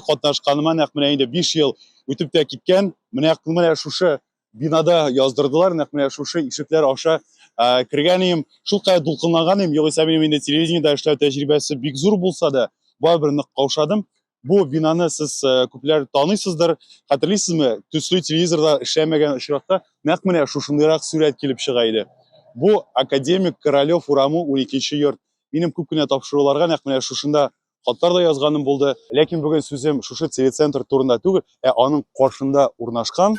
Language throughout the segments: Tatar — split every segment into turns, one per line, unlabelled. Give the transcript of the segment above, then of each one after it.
чарада катнашканыма нәкъ менә инде 5 ел үтеп тә киткән. Менә менә шушы бинада яздырдылар, нәкъ менә шушы ишекләр аша ә, кергән идем. Шулкадәр дулкынланган идем, югыйсә минем инде телевидениедә эшләү тәҗрибәсе бик зур булса да, барыбер нык каушадым. Бу бинаны сез ә, күпләр таныйсыздыр, хәтерлисезме? Төсле телевизорда эшләмәгән очракта нәкъ менә шушындыйрак сурәт килеп чыга иде. Бу академик Королев урамы 12 йорт. Минем күп кенә тапшыруларга нәкъ менә шушында хатлар да язганым булды. Ләкин бүген сүзем шушы телецентр турында түгел, ә аның каршында урнашкан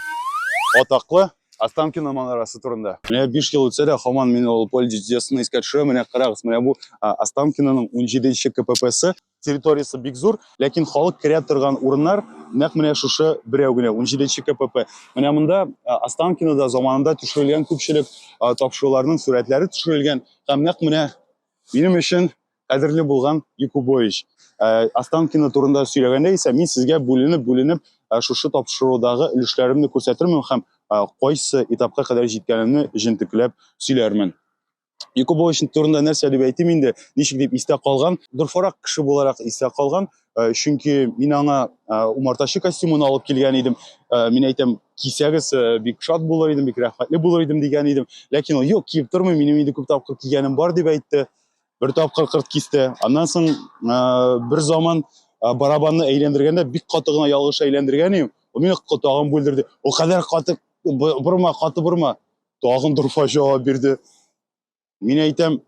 атаклы Останкино манарасы турында. Менә 5 ел үтсә дә, һаман мин ул поле чудесны искә төшерәм. Менә карагыз, менә бу Останкиноның 17-нче КППсы. Территориясе бик зур, ләкин халык керә торган урыннар нәкъ менә шушы берәү генә, 17-нче КПП. Менә монда Останкинода заманында төшерелгән күпчелек тапшыруларның сурәтләре төшерелгән. Һәм нәкъ менә минем өчен кадерле булган Якубович. Э, Останкино турында сөйләгәндә исә мин сезгә бүленеп-бүленеп э, шушы тапшырудагы өлешләремне күрсәтермен һәм э, кайсы этапка кадәр җиткәнемне җентекләп сөйләрмен. Якубович турында нәрсә дип әйтим инде, ничек дип истә калган, дорфарак кеше буларак истә калган, чөнки мин аңа умартачы костюмын алып килгән идем. Мин әйтәм, кисәгез бик шат булыр идем, бик рәхмәтле булыр идем дигән идем. Ләкин ул, юк, киеп тормыйм, минем инде күп тапкыр кигәнем бар дип әйтте. бер тапкыр кырт кисте аннан соң бер заман барабанны әйләндергәндә бик каты гына ялгыш әйләндергән идем ул мине тагын бүлдерде ул кадәр каты борма каты борма тагын дурфа җавап бирде мин әйтәм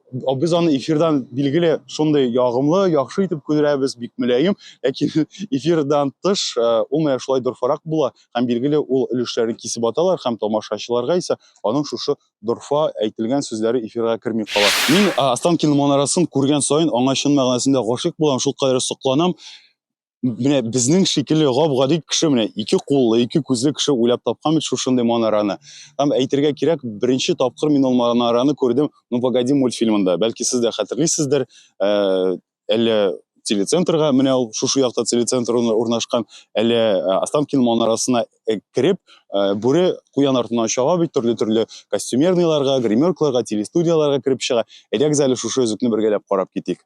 без аны эфирдан билгеле шундый ягымлы яхшы итеп күрәбез бик мөлаем ләкин эфирдан тыш ул менә шулай дорфарак була һәм билгеле ул өлешләрен кисеп аталар һәм тамашачыларга исә аның шушы дорфа әйтелгән сүзләре эфирга керми кала. Мин Останкин манарасын күргән саен аңа чын мәгънәсендә гашыйк булам, шул кадәр сокланам. Менә безнең шикелле гап-гади кеше менә ике куллы, ике күзле кеше уйлап тапкан бит шушындый манараны. Һәм әйтергә кирәк, беренче тапкыр мин ул манараны күрдем Ну погоди мультфильмында. Бәлки сез дә хәтерлисездер, э, әллә телецентрга менә ул шушы якта телецентр урнашкан әле останкин манарасына кереп бүре куян артыннан чаба бит төрле төрле костюмерныйларга гримеркларга телестудияларга кереп чыга әйдәгез әле шушы өзекне бергәләп карап китик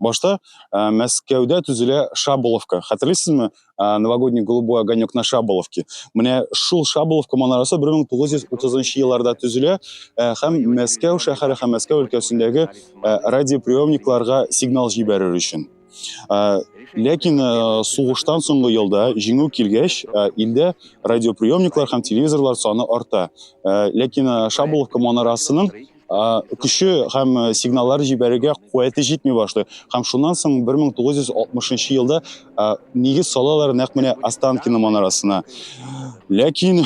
Башта ә, Мәскәүдә төзелә Шаболовка. Хәтерлисезме? Ә, новогодний голубой огонек на Шаболовке. Менә шул Шаболовка манарасы 1930 елларда төзелә ә, һәм Мәскәү шәһәре һәм Мәскәү өлкәсендәге ә, радиоприемникларга сигнал җибәрер өчен. Ә, ләкин ә, сугыштан соңгы елда җиңү килгәч, ә, илдә радиоприемниклар һәм телевизорлар саны арта. Ә, ләкин ә, Шаболовка манарасының көче һәм э, сигналлар җибәрергә куәте җитми башлый. Һәм шуннан соң 1960 елда э, нигез салалар нәкъ менә Останкино манарасына. Ләкин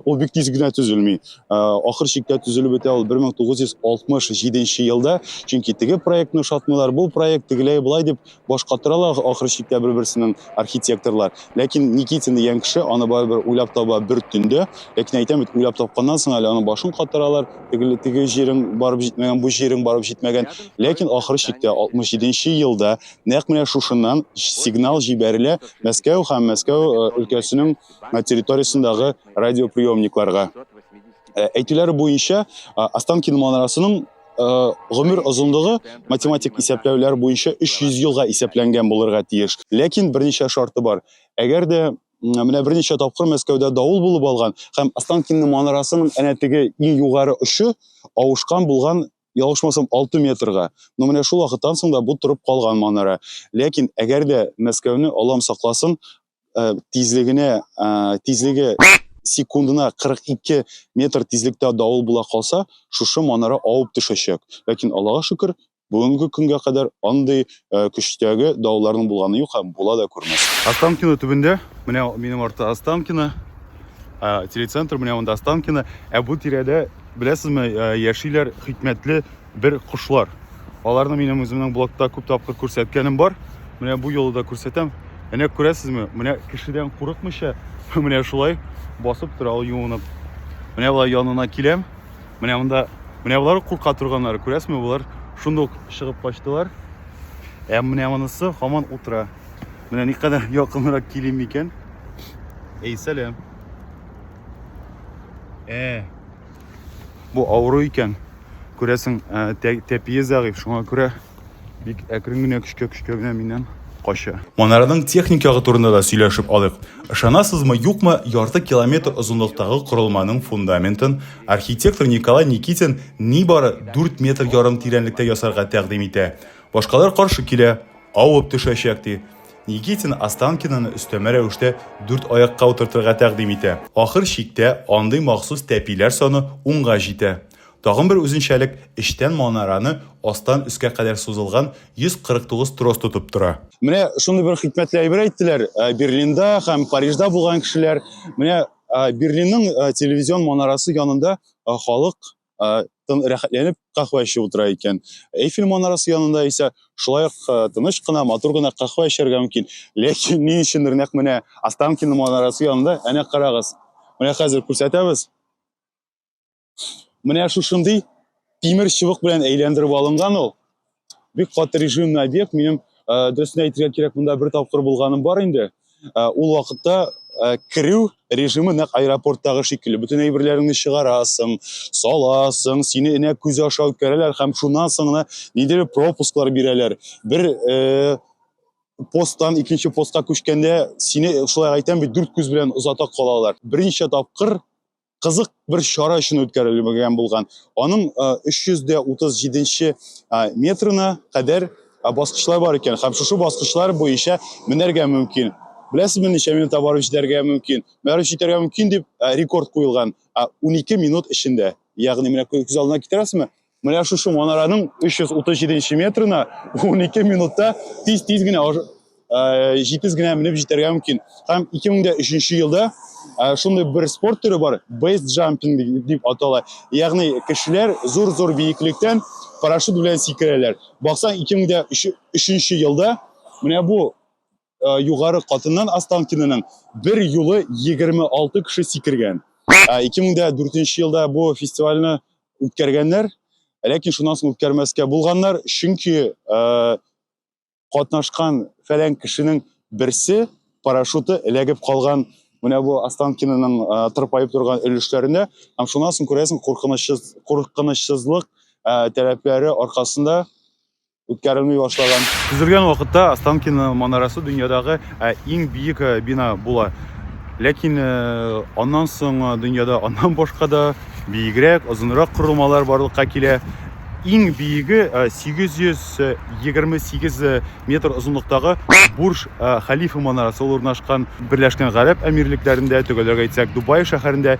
ул бик тиз генә төзелми. Э, ахыр чиктә төзелеп бетә ул 1967 елда, чөнки теге проектны ошатмыйлар, бу проект тегеләй былай дип Башка торалар ахыр чиктә бер-берсенең архитекторлар. Ләкин Никитин дигән кеше аны барыбер уйлап таба бер төндә. Ләкин әйтәм бит, уйлап тапканнан соң әле аның башын катыралар, теге теге җирең барып җитмәгән, бу җирең барып җитмәгән. Ләкин ахыр чиктә 67 нче елда нәкъ менә шушыннан сигнал җибәрелә Мәскәү һәм Мәскәү өлкәсенең территориясендәге радиоприемникларга. Әйтүләре буенча, Останкино манарасының Э, гомер озынлыгы математик исәпләүләр буенча 300 елга исәпләнгән булырга тиеш. Ләкин берничә шарты бар. Әгәр дә менә берничә тапкыр Мәскәүдә давыл булып алган һәм Останкинның манарасының әнә теге иң югары очы авышкан булган ялгышмасам 6 метрга. Но менә шул вакыттан соң да бу торып калган манара. Ләкин әгәр дә Мәскәүне алам сакласын, ә, тизлегенә ә, тизлеге секундына 42 метр тизлектә давыл була калса, шушы манара авып төшәчәк. Ләкин Аллага шөкер, бүгенге көнгә кадәр андый ә, көчтәге давылларның булганы юк һәм була да күрмәс. Останкино төбендә, менә минем артта Останкино, телецентр, менә монда Останкино. Ә бу тирәдә, беләсезме, яшиләр хикмәтле бер кошлар. Аларны минем үземнең блогта күп тапкыр күрсәткәнем бар. Менә бу юлы да күрсәтәм. Әнә күрәсезме, менә кешедән курыкмыйча, менә шулай басып тора ул юынып. Менә болай янына киләм. Менә монда, менә болар курка торганнар, күрәсезме, болар шундук чыгып качтылар. Ә менә монысы хаман утыра. Менә никадәр якынрак килим микән? Эй, сәлам. Э, Бу авыру икән. Күрәсең, тәпие зәгыйфь, шуңа күрә бик әкрен генә көчкә-көчкә генә миннән кача. Манараның техник ягы турында да сөйләшеп алыйк. Ышанасызмы, юкмы, ярты километр озынлыктагы корылманың фундаментын архитектор Николай Никитин нибары дүрт метр ярым тирәнлектә ясарга тәкъдим итә. Башкалар каршы килә. Авып төшәчәк, ди. Никитин Останкинаны өстәмә рәвештә дүрт аякка утыртырга тәкъдим итә. Ахыр чиктә андый махсус тәпиләр саны унга җитә. Тагын бер үзенчәлек, эчтән манараны астан өскә кадәр сузылган 149 трос тотып тора. Менә шундый бер хикмәтле әйбер әйттеләр Берлинда һәм Парижда булган кешеләр. Менә Берлинның телевизион манарасы янында халык тын рәхәтләнеп каһвә эчеп утыра икән. Эйфель манарасы янында исә шулай ук тыныч кына, матур гына каһвә эчәргә мөмкин. Ләкин ни өчендер нәкъ менә Останкино манарасы янында, әнә карагыз. Менә хәзер күрсәтәбез. Менә шушындый тимер чыбык белән әйләндереп алынган ул. бик каты режимный объект минем э, дөресен әйтергә кирәк монда бер тапкыр булганым бар инде э, ул вакытта э, керү режимы нәкъ аэропорттагы шикелле бөтен әйберләреңне чыгарасың саласың сине энә күзе аша үткәрәләр һәм шуннан соң гына ниндидер пропусклар бирәләр бер э, посттан икенче постка күчкәндә сине шулай әйтәм бит дүрт күз белән озата калалар берничә тапкыр кызык бер чара өчен үткәрелгән булган. Аның 337 метрына кадәр баскычлар бар икән һәм шушы баскычлар буенча менәргә мөмкин. Беләсезме, ничә минутта барып җитәргә мөмкин? Барып җитәргә мөмкин дип рекорд куелган 12 минут эчендә. Ягъни менә күз алдына китерәсезме? Менә шушы манараның 337 метрына 12 минутта тиз-тиз генә җитез генә менеп җитәргә мөмкин. Һәм 2003 елда шундый бер спорт төре бар, бейс джампинг дип атала. Ягъни кешеләр зур-зур биеклектән парашют белән сикерәләр. Баксаң 2003 елда менә бу Э, югары катыннан Останкинаның бер юлы 26 кеше сикергән. 2004 э, елда бу фестивальне үткәргәннәр, ләкин шуннан соң үткәрмәскә булганнар, чөнки э, катнашкан фәлән кешенең берсе парашюты эләгеп калган менә бу Останкинаның тырпаеп торган өлешләренә, һәм шуннан соң күрәсең куркынычсыз куркынычсызлык таләпләре аркасында үткәрелми башлаган. Төзелгән вакытта Останкино манарасы дөньядагы ә, иң биек ә, бина була. Ләкин ә, аннан соң ә, дөньяда аннан башка да биегрәк, озынрак корылмалар барлыкка килә. Иң биеге ә, 828 ә, метр озынлыктагы Бурж ә, Халифа манарасы ул урнашкан Берләшкән Гарәп Әмирлекләрендә, төгәлрәк әйтсәк, Дубай шәһәрендә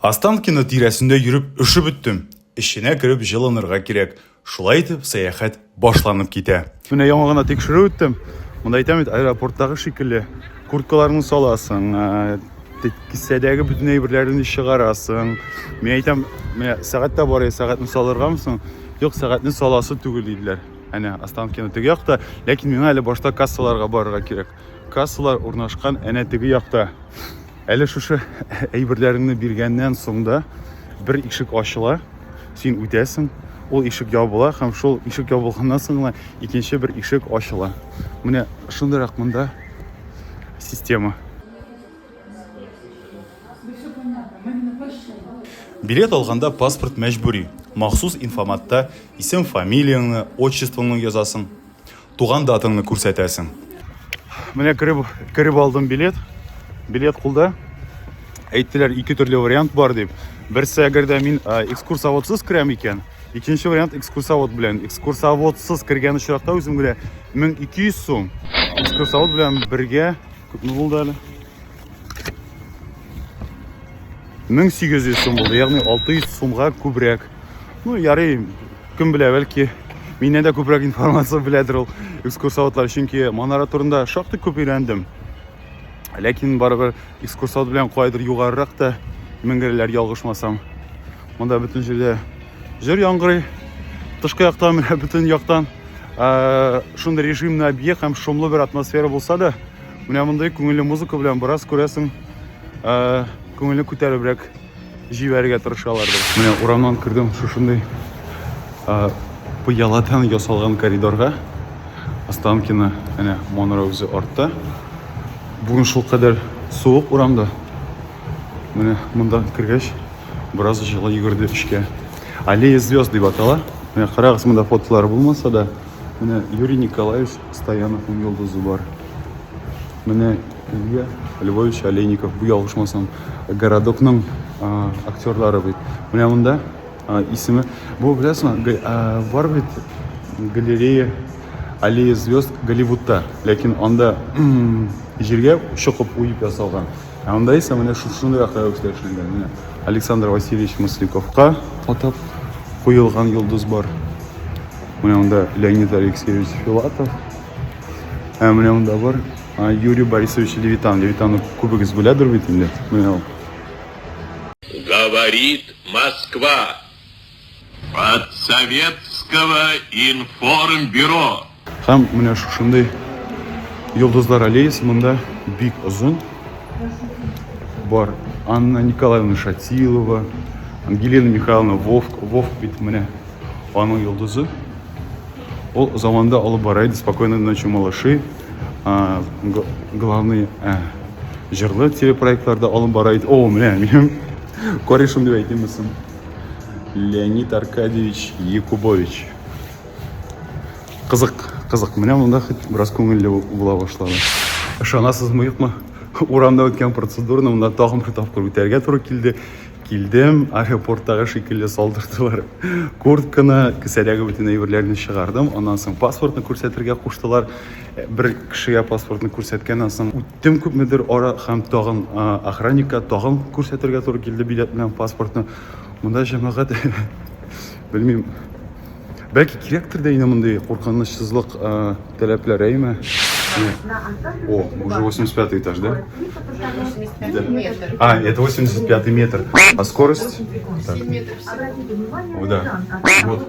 Останкино тирәсендә йөреп өшеп беттем. Эченә кереп җылынырга кирәк. Шулай итеп, сәяхәт башланып китә. Менә яңа гына тикшерү үттем. Монда әйтәм бит, аэропорттагы шикелле. Курткаларны саласың, ә, кесәдәге бөтен әйберләреңне чыгарасың. Мин әйтәм, менә сәгать тә бар, сәгатьне салыргамы соң? Юк, сәгатьне саласы түгел диделәр. Әнә Останкино теге якта, ләкин миңа әле башта кассаларга барырга кирәк. Кассалар урнашкан әнә теге якта. Әле шушы әйберләреңне биргәннән соң да бер ишек ачыла, син үтәсең, ул ишек ябыла һәм шул ишек ябылганнан соң гына икенче бер ишек ачыла. Менә шундыйрак монда система. Билет алганда паспорт мәҗбүри. Махсус инфоматта исем-фамилияңне, отчествоңны язасың. Туган датыңны күрсәтәсең. Менә кереп, кереп алдым билет. Билет кулда. Әйттеләр, ике төрле вариант бар дип. Берсе, әгәр дә мин ә, экскурсоводсыз керәм икән, икенче вариант экскурсовод белән. Экскурсоводсыз кергән очракта үзем генә 1200 сум, экскурсовод белән бергә күпме булды әле? 1800 сум булды, ягъни 600 сумга күбрәк. Ну, ярый, кем белә, бәлки миннән дә күбрәк информация беләдер ул экскурсоводлар, чөнки манара турында шактый күп өйрәндем. Ләкин барыбер экскурсовод белән кайдыр югарырак та менгерләр ялгышмасам. Монда бөтен җирдә җыр яңгырый. Тышкы яктан, бөтен яктан шундый режимный объект һәм шомлы бер атмосфера булса да, Менә мондый күңелле музыка белән бераз күрәсең, э, күңелне күтәребрәк җибәрергә тырышалардыр. Менә урамнан кердем шушындый э, пыяладан ясалган коридорга. Останкино, әнә Монро үзе артта. Бүген шул кадәр суык урамда. Менә монда кергәч, бераз җылы йөгерде эчкә. Аллея звезд дип атала. Менә карагыз, монда фотолар булмаса да, Менә Юрий Николаевич Стояновның йолдызы бар. Менә Илья Львович Олейников, бу ялгышмасам, городокның актерлары бит. Менә монда исеме. Бу беләсме? Бар бит галерея Аллея звезд Голливудта, ләкин анда җиргә чокып уеп ясалган. Ә анда исә менә шушындый акрәвештә эшләнгән. Менә Александр Васильевич Мысликовка атап куелган йолдыз бар. Менә анда Леонид Алексеевич Филатов. Ә менә анда бар Юрий Борисович Левитан. Левитанны күбегез беләдер бит инде. Менә ул. Говорит
Москва. От советского информбюро. Һәм
менә шушындый йолдызлар аллеясы монда бик озын. Бар Анна Николаевна Шатилова, Ангелина Михайловна Вовк, Вовк бит менә аның йолдызы. Ул заманда алып бара иде спокойной ночи малыши. Главный Җырлы телепроектларда алып бара иде. О, менә минем корешым дип әйтимме соң? Леонид Аркадьевич Якубович. Кызык, кызык. Менә монда хит бераз күңелле була башлады. Ышанасызмы, юкмы? Урамда үткән процедураны монда тагын бер тапкыр үтәргә туры килде. Килдем, аэропорттагы шикелле салдырдылар. Куртканы, кесәдәге бөтен әйберләрне чыгардым. Аннан соң паспортны күрсәтергә куштылар. Бер кешегә паспортны күрсәткәннән соң, үттем күпмедер ара һәм тагын охранникка тагын күрсәтергә туры килде билетны һәм паспортны. Монда җәмәгать белмим. Бәлки кирәктер дә инде мондый куркынычсызлык таләпләре, әйме? О, уже 85 этаж, да? 85 метр. А, это 85 метр. А скорость? Так. Обратите внимание, да. Вот.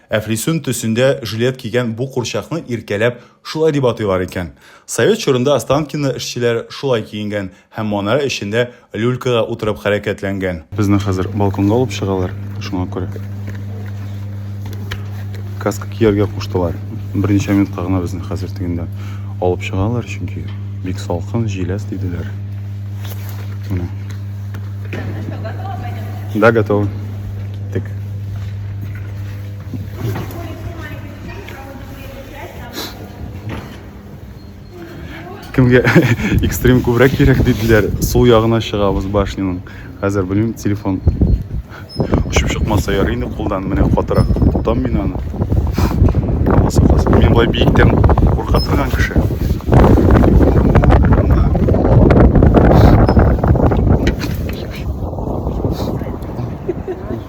Әфлисун төсендә жилет кигән бу курчакны иркәләп шулай дип атыйлар икән. Совет чорында Останкино эшчеләр шулай киенгән һәм манара эчендә люлькага утырып хәрәкәтләнгән. Безне хәзер балконга алып чыгалар, шуңа күрә каска кияргә куштылар. Берничә минутка гына безне хәзер тегендә алып чыгалар, чөнки бик салкын, җиләс диделәр. Менә. Да, готовы. Киттек. кемге экстрим күбрәк кирәк диделәр сул ягына чыгабыз башняның хәзер белмим телефон очып чыкмаса ярый инде кулдан менә катырак тотам мин аны мин болай биектән курка торган кеше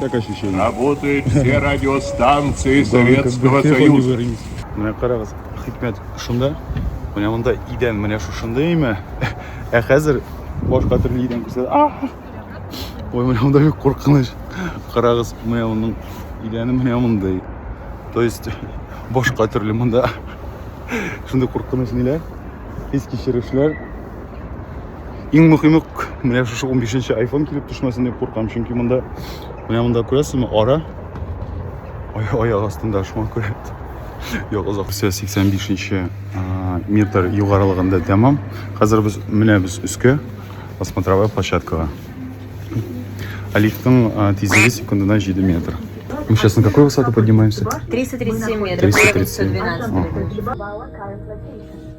Так ощущение.
Работают все
радиостанции Советского Союза. Менә карагыз,
хикмәт шунда. Менә монда идән менә шушындый име. Ә хәзер башка төрле идән күрсәтә. А! Ой, менә монда бик куркыныч. Карагыз, менә моның идәне менә мондый. То есть башка төрле монда. Шундый куркыныч ниләр? Хис кичерешләр. Иң мөхиме, менә шушы 15 нче iPhone килеп төшмәсен дип куркам, чөнки монда менә монда күрәсезме, ара аяк астында шуңа күрә. Юк, озак 85 нче метр югарылыгында тәмам. Хәзер без менә без өскә осмотровая площадкага. Алифтың тизлеге секундына 7 метр. Мы сейчас на какой высоту поднимаемся?
337 метров. 337. Ага.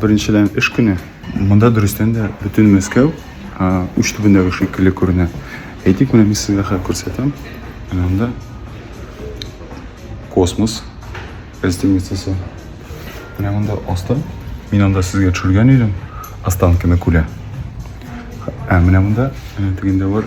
Беренчелән эш көне. Монда дөрестән дә бөтен Мәскәү уч төбендәге шикелле күренә. Әйтик, менә мин сезгә хәзер күрсәтәм. Менә анда космос гостиницасы. Менә монда асты. Мин анда сезгә төшергән идем. Останкино күле. Ә менә монда, менә тегендә бар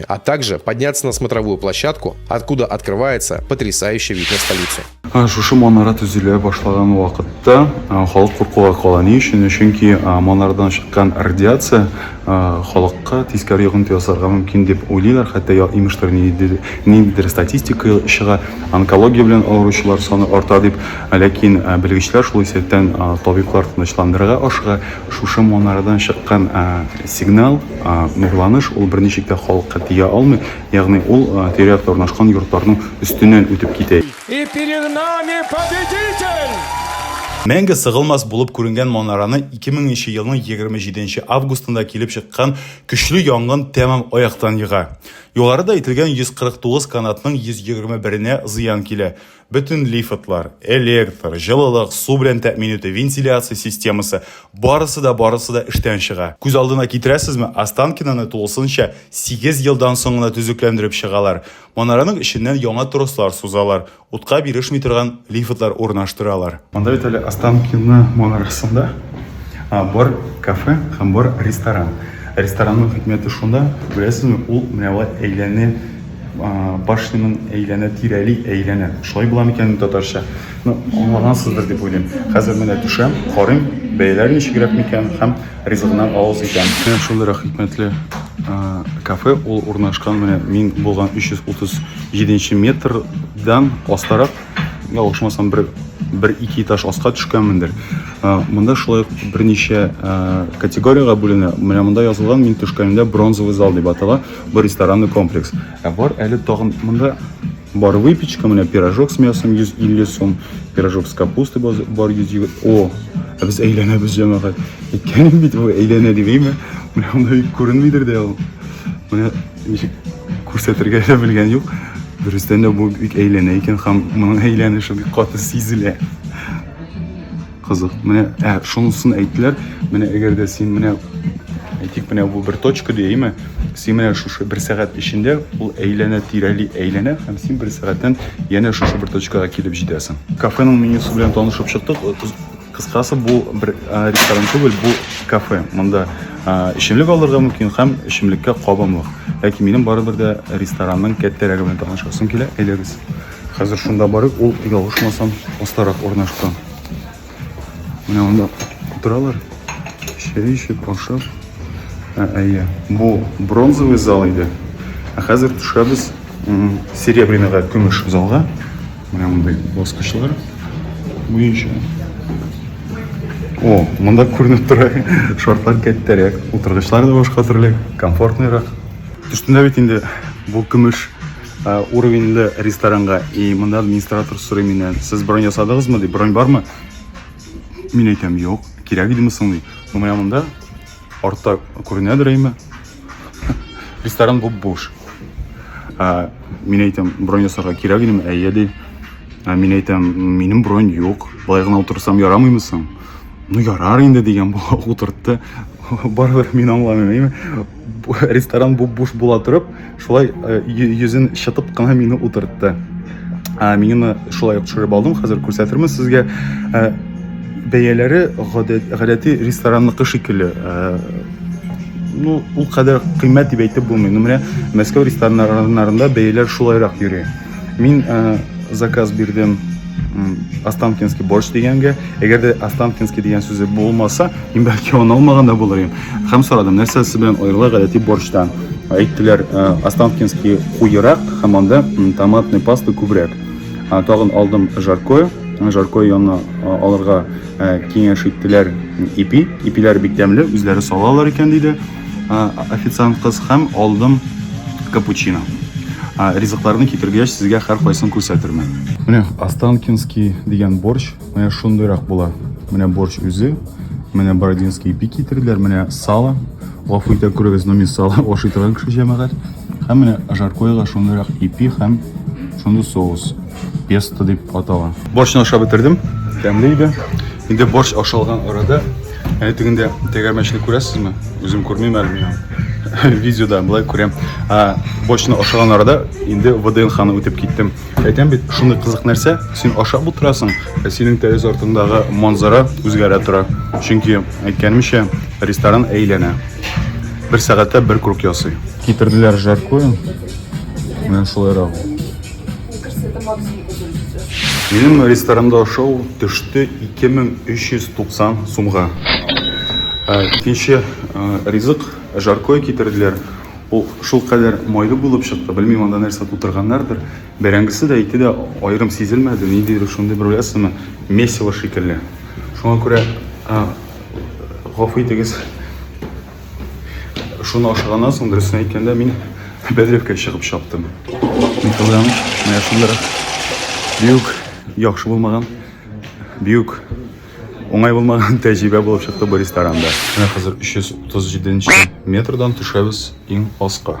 а также подняться на смотровую площадку, откуда открывается потрясающий вид на столицу. Шушы манара
төзелә башлаган вакытта халык куркуга кала. Ни өчен? Чөнки манардан чыккан радиация халыкка тискәре йогынты ясарга мөмкин дип уйлыйлар. Хәтта имештер ниндидер статистика чыга, онкология белән авыручылар саны арта дип. Ләкин белгечләр шул исәптән табиблар тынычландырырга ашыга. Шушы манарадан чыккан сигнал, нурланыш, ул берничек тә халыкка тия алмый, ягъни ул тирә-якта урнашкан йортларның өстеннән үтеп китә. И перед
нами победитель! Мәңге
сыгылмас булып күренгән манараны 2000 нче елның 27 нче августында килеп чыккан көчле янгын тәмам аяктан ега. Югарыда әйтелгән 149 канатның 121 нә зыян килә. Бөтен лифтлар, электр, җылылык, су белән тәэмин итү, вентиляция системасы, барысы да, барысы да эштән чыга. Күз алдына китерәсезме, Останкиноны тулысынча сигез елдан соң гына төзекләндереп чыгалар. Манараның эченнән яңа трослар сузалар, утка бирешми торган лифтлар урнаштыралар. Монда бит әле Останкино манарасында бар кафе һәм бар ресторан. Ресторанның хикмәте шунда, беләсезме, ул менә алай әйләнә башнянын әйләнә тирәли әйләнә шулай була микән татарча ну аңлагансыздыр дип уйлыйм хәзер менә төшәм карыйм бәяләр ничегрәк микән һәм ризыгына авыз икән менә шундыйрак хикмәтле кафе ул урнашкан менә мин булган 337 метрдан астарак ялгышмасам бер бер ике этаж аска төшкәнмендер монда шулай берничә категориягә бүленә менә монда язылган мин төшкәнемдә бронзовый зал дип атала Бу ресторанный комплекс. Ә бар әле тагын монда бар выпечка, менә пирожок с мясом 150 сум, пирожок с капустой бар 100. О, ә без әйләнәбез җәмәгать. Әйткәнем бит бу әйләнә дип, әйме? Менә анда бик күренмидер дә ул. Менә ничек күрсәтергә дә белгән юк. Дөрестән дә бу бик әйләнә икән һәм моның әйләнеше бик каты сизелә. Кызык. Менә ә, шунысын әйттеләр. Менә әгәр дә син менә әйтик, менә бу бер точка дияме? Син менә шушы бер сәгать эчендә ул әйләнә тирәли әйләнә һәм син бер сәгатьтән янә шушы бер точкага килеп җитәсең. Кафеның менюсы белән танышып чыктык. Кыскасы бу бер ресторан түгел, бу кафе. Монда эчемлек алырга мөмкин һәм эчемлеккә кабымлык. Ләкин минем барыбер дә ресторанның кәттәрәге белән танышасым килә. Әйдәгез. Хәзер шунда барып, ул ялгышмасам, астарак урнашкан. Менә анда утыралар. Чәй эчеп, ашап. Ә, әйе. Бу бронзовый зал иде. Ә хәзер төшәбез серебряныйга, көмеш залга. Менә мондый баскычлар буенча. О, монда күренеп тора. Шартлар кәттәрәк, утыргычлар да башка төрле, комфортныйрак. Төштендә бит инде бу көмеш Ә, уровеньле ресторанга. И монда администратор сорый миннән, сез бронь ясадыгызмы дип, бронь бармы? Мин әйтәм, юк, кирәк идеме соң ди. Ну, менә монда артта күренәдер әйме. Ресторан бу буш. Ә, мин әйтәм, бронь ясарга кирәк идеме? Әйе ди. Ә, мин әйтәм, минем бронь юк. Болай гына утырсам ярамыймы соң? Ну, ярар инде дигән бу утыртты. Барыбер мин аңламыйм, әйме? ресторан буп-буш була торып, шулай э, йөзен чытып кына мине утыртты. Ә, мин аны шулай ук төшереп алдым, хәзер күрсәтермен сезгә. Ә, бәяләре гадәти ресторанныкы шикелле. Ә, ну, ул кадәр кыйммәт дип әйтеп булмый. Ну, менә Мәскәү рестораннарында бәяләр шулайрак йөри. Мин э, заказ бирдем Останкинский борщ дигәнгә, әгәр дә Останкинский дигән сүзе булмаса, мин бәлки аны алмаган да булыр идем. Һәм сорадым, нәрсә сез белән аерыла гадәти борщтан? Әйттеләр, э, Останкинский куерак һәм анда томатный паста күбрәк. Тагын алдым жаркое, жаркое янына алырга киңәш иттеләр ипи. Ипиләр бик тәмле, үзләре салалар икән диде. а, официант кыз һәм алдым капучино. А, ризыкларны китергәч, сезгә һәр кайсын күрсәтермен. Менә Останкинский дигән борщ, менә шундыйрак була. Менә борщ үзе, менә Бородинский ипи китерделәр, менә сало. Гафу итә күрегез, но мин сало ашый торган кеше җәмәгать. Һәм менә жаркоега шундыйрак ипи һәм шундый соус. Песто дип атала. Борщны ашап бетердем. Тәмле иде. Инде борщ ашалган арада әнә тегендә тәгәрмәчне күрәсезме? Үзем күрмим әле миңа. Видеода былай күрәм. А, борщны ашаган арада инде ВДНХны үтеп киттем. Әйтәм бит, шундый кызык нәрсә, син ашап утырасың, ә синең тәрәз артындагы манзара үзгәрә тора. Чөнки әйткәнемчә, ресторан әйләнә. Бер сәгатьтә бер круг ясый. Китерделәр жаркое. Менә шулай Мне кажется, это максимум, который сейчас. Минем ресторанымда ашау төште 2390 сумга. Ә, Икенче ә, ризык жаркое китерделәр. Ул шул кадәр майлы булып чыкты. Белмим, анда нәрсә тутырганнардыр. Бәрәңгесе дә ите дә аерым сизелмәде. Ниндидер шундый бер беләсеңме, месиво шикелле. Шуңа күрә, ә, гафу итегез, Шуны ашаганнан соң, дөресен әйткәндә, мин бәдрәфкә чыгып чаптым. Мин кылган, менә шундыр. Бик яхшы булмаган, бик уңай булмаган тәҗрибә булып чыкты бу ресторанда. Менә хәзер 337 метрдан төшәбез иң аска.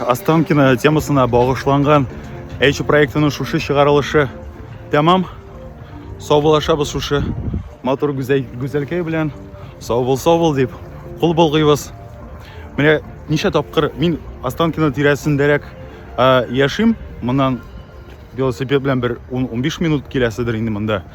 Останкино темасына багышланган Эйчи проектының шушы чыгарылышы тәмам. Саубулашабыз шушы матур гүзәлкәй белән. Сау бул, сау бул дип кул болгыйбыз. Менә ничә тапкыр мин Останкино тирәсендәрәк яшим. Моннан велосипед белән бер 10-15 минут киләседер инде монда.